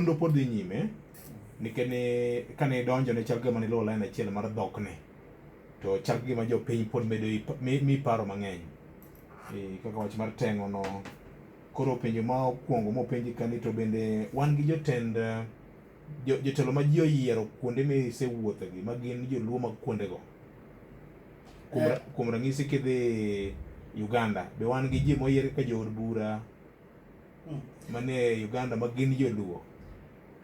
Nonro pod dhi nyime nikech ne kane idonjo ne chal kagima ne iluwo lain achiel mar dhokni. To chal kagima jopiny pod medo ipa- mi- mi paro mang'eny. Eh, Kaka wach mar teng'o no. Koro penjo ma okuongo mopenji ka ni to bende wan gi jotend eh, jo- jotelo ma ji oyiero kuonde misewuothegi ma gin joluo mag kuondego. Kuom ra- Eh. kuom ranyisi kidhi Uganda be wan gi ji moyier kaka jood bura mm. mane Uganda ma gin joluo.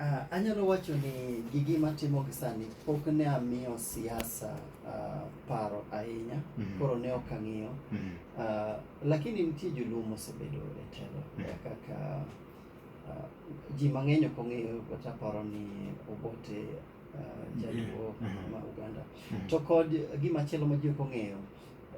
Uh, anyalo wacho ni gigi matimo gi sani pok ne amiyo siasa uh, paro ahinya mm -hmm. koro ne ok ang'iyo mm -hmm. uh, lakini nitie joluo mosebedo e telo mm -hmm. kaka uh, ji mang'eny ok ong'eyo kata paro ni Obote uh, jaluo mm -hmm. ma Uganda mm -hmm. to kod gima chielo ma ji ok ong'eyo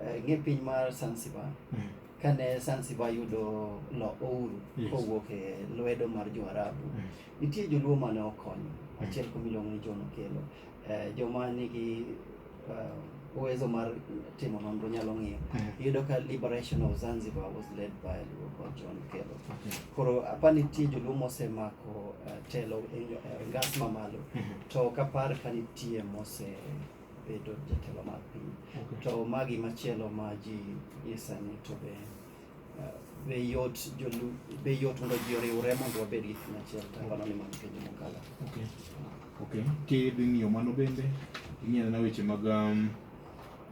uh, ng'e piny mar Zanzibar mm -hmm. kane Zanzibar yudo lo ouru yes. kowuok e lwedo mar Joarabu yes. nitie joluo mane okonyo mm. achiel kuom iluongo ni John Okello eh, joma nigi uh, uwezo mar timo nonro nyalo ng'iyo mm. iyudo ka liberation of Zanzibar was led by Luo John Kello okay. koro apa nitie joluo mosemako uh, telo e, e ngas mamalo mm -hmm. to kapar ka nitie mose bedo jatelo mar piny okay. to magi machielo ma ji isani to be uh, be yot jolu be yot mondo ji oriwre mondo wabed gi kama achiel tangono ni mano penjo mokalo okay. okay. kid ng'iyo mano bende ing'iyo na weche mag um,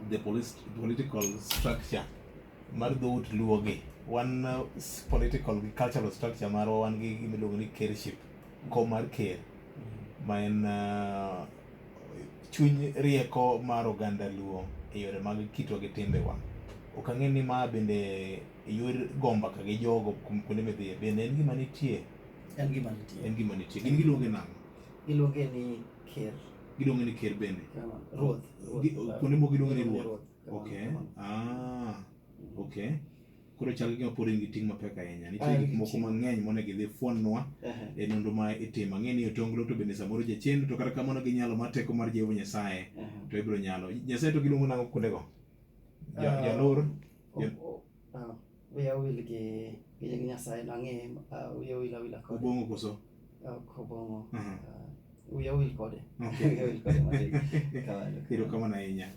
the police, political structure mar dhout luwo gi wan uh, political gi cultural structure marwa wan gi gimiluongo ni kership kom mar ker mm-hmm. ma en uh, chuny rieko mar oganda luo e yore mag kitwa gi timbewa. Ok ang'e ni ma bende yor gomba ka gi jogo kum- kuonde midhiye bende en gima nitie En gima nitie. en gima nitie gin giluonge nang'o Iluonge ni ker. giluonge ni ker bende Ruoth. Gi- kuonde moko giluonge ni ruoth Ruoth. okay ah okay Koro chal gima pod in gi ting' mapek ahinya. Nitie gik moko mang'eny monego idhi fwannwa e nonro ma itimo. Ang'e ni otonglo to bende samoro jachendo to kata kamano gi nyalo mar teko mar Jehova Nyasaye to ibiro nyalo. Nyasaye to giluongo nang'o kuondego? Ja- Jalor? Ja- Ah, wiya wil gi gi nying Nyasaye no ang'e ah, wiya wil awila kode Obong'o koso? Ah, ok obong'o Aha. Ah, wiya wil kode Okay. wiya wil kode matin kamano Erokamano ahinya.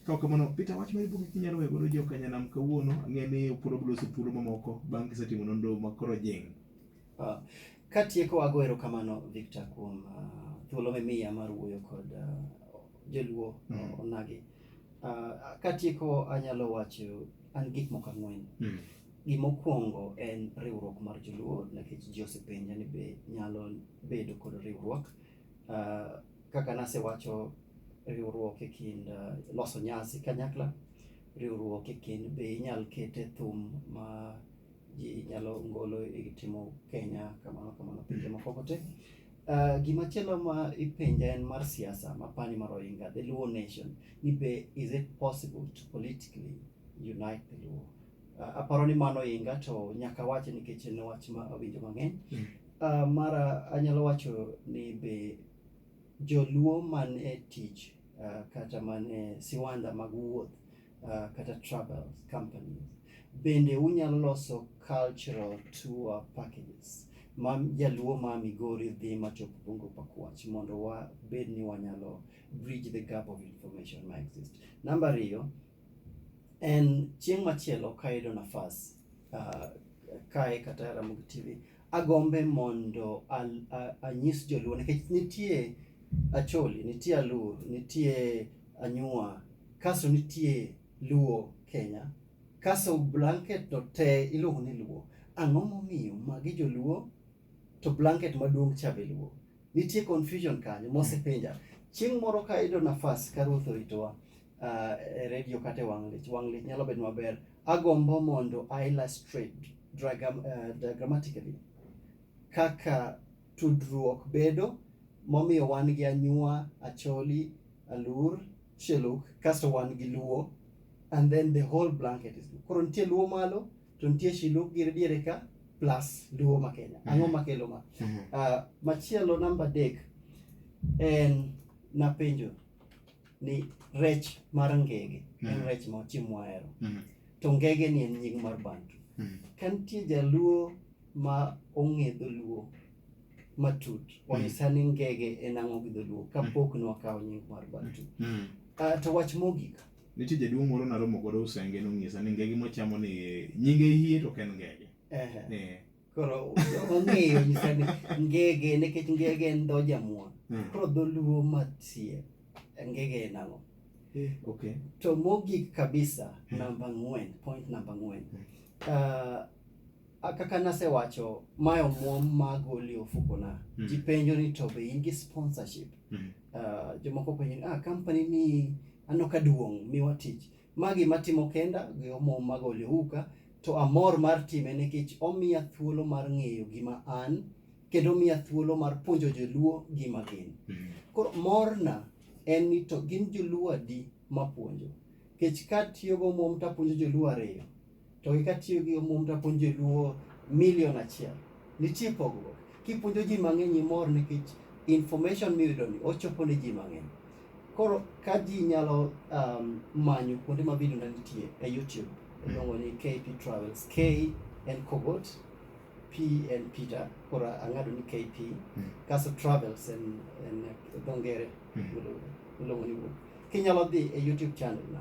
Kaok kamano, Peter, wach mar buge kinyalo weyo godo jo Kanyanam kawuono, ang'e ni pod wabiro loso thuolo mamoko bang' kisetimo nonro ma koro jing'. Ah, Katieko ago erokamano Victor kuom ah, thuolo mimiya mar wuoyo kod ah, joluo Mm. onagi. Ah, Katieko anyalo wacho an gik moko ang'wen. Mm. Gimokwongo en riwruok mar joluo nikech ji osepenja ni be nyalo bedo kod riwruok. Uh, kaka nasewacho riwruok e kind uh, loso nyasi kanyakla riwruok e kind be inyal kete thum ma ji nyalo ngolo e timo Kenya kamano kamano pinje moko kote Uh, gima chielo ma ipenja en mar siasa mapani mar Oinga, the Luo nation, ni be is it possible to politically unite the Luo? aparo ni mano inga to nyaka wache nikech en wach ma awinjo mang'eny. Mm. Uh, mara anyalo wacho ni be joluo man e tich uh, kata man e siwanda mag wuoth uh, kata travel companies bende unyalo loso cultural tour packages ma jaluo ma Migori dhi machop Bungo Pakwach mondo wabed ni wanyalo bridge the gap of information ma exist. Namba ariyo, En chieng' machielo ka ayudo nafas uh, kae kata e Ramogi TV, agombe mondo al- a- anyis joluo nikech nitie Acholi, nitie Alur, nitie Anyua, kaso nitie Luo Kenya, kaso blanket to te iluongo ni Luo. Ang'o momiyo magi joluo to blanket maduong' cha be luo. Nitie confusion kanyo mosepenja. Chieng' moro ka ayudo nafas ka Ruoth oritowa ah, e redio kata e wang' lich, wang' lich nyalo bedo maber. Agombo mondo I illustrate dragam- eh, diagrammatically kaka tudruok bedo momiyo wan gi anyua, acholi, alur, sheluk kasto wan gi luo and then the whole blanket is luo. Koro nitie luo malo, to nitie shilu gi diere ka plus luo ma kenya mm-hmm. ang'o makelo ma mm-hmm. ah, machielo namba dek en napenjo ni rech mar ngege en mm-hmm. rech ma ochimo ahero to ngege ni en nying mar bantu ka nitie jaluo ma ong'e dholuo matut wanyisa ni ngege en ang'o gi dholuo kapok nwakawo nying mar bantu ah, to wach mogik Nitie jaduong' moro naromo godo Usenge nonyisa ni ngege mochamo ni nyinge hie to ok en ngege. Ehe. Eh. Koro ong'eyo nyisa ni ngege nikech ngege en dho jamuon. Mm. Koro dholuo matie ngege en ang'o? Eh, Okay. To mogik kabisa namba ang'wen, point namba ang'wen. Mm. Ah, Ah, kaka nasewacho mae omuom magoli ofukona mm. ji penjo ni to be in gi sponsorship mm. uh, jomoko penjo ni ah, company ni aneno ka duong' miwa tich magi matimo kenda gi omuom magoli ouka to amor mar time nikech omiya thuolo mar ng'eyo gima an kendo omiya thuolo mar puonjo joluo gima gin mm. koro morna en ni to gin joluo adi mapuonjo kech katiyogo omuom tapuonjo joluo ariyo to gi katiyo gi omum to apuonjo joluo milion achiel. Nitie pogruok. Kipuonjo ji mang'eny imor nikech information miyudo ni ochopo ne ji mang'eny. Koro ka ji nyalo um, manyo kuonde ma video na nitie e YouTube iluongo ni KP Travels. K en Kogot, P en Peter, koro ang'ado ni KP. Mm. Kaso Travels en en dho ngere Mm. iluongo ni wuoth. Kinyalo dhi e YouTube channel na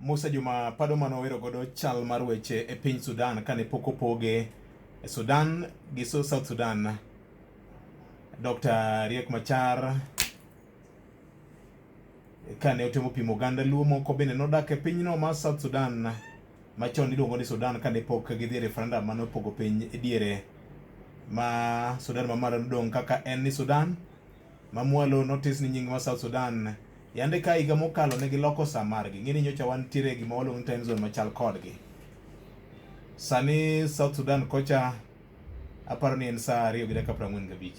Musa Juma pado mane owero godo chal mar weche e piny Sudan kane pok opoge e Sudan gi South Sudan. Dr. Riek Machar Kane otemo pimo oganda Luo moko bende nodak e pinyno ma South Sudan machon iluongo ni Sudan kane pok gidhi referendum mane opogo piny e diere ma Sudan ma malo nodong' kaka en ni Sudan ma mwalo notis ni nying ma South Sudan yande ka higa mokalo ne giloko sa margi ng'e ni nyocha wantiere gima waluongo ni time zone machal kodgi sani South Sudan kocha aparo ni en saa ariyo gi dakika piero ang'wen gabich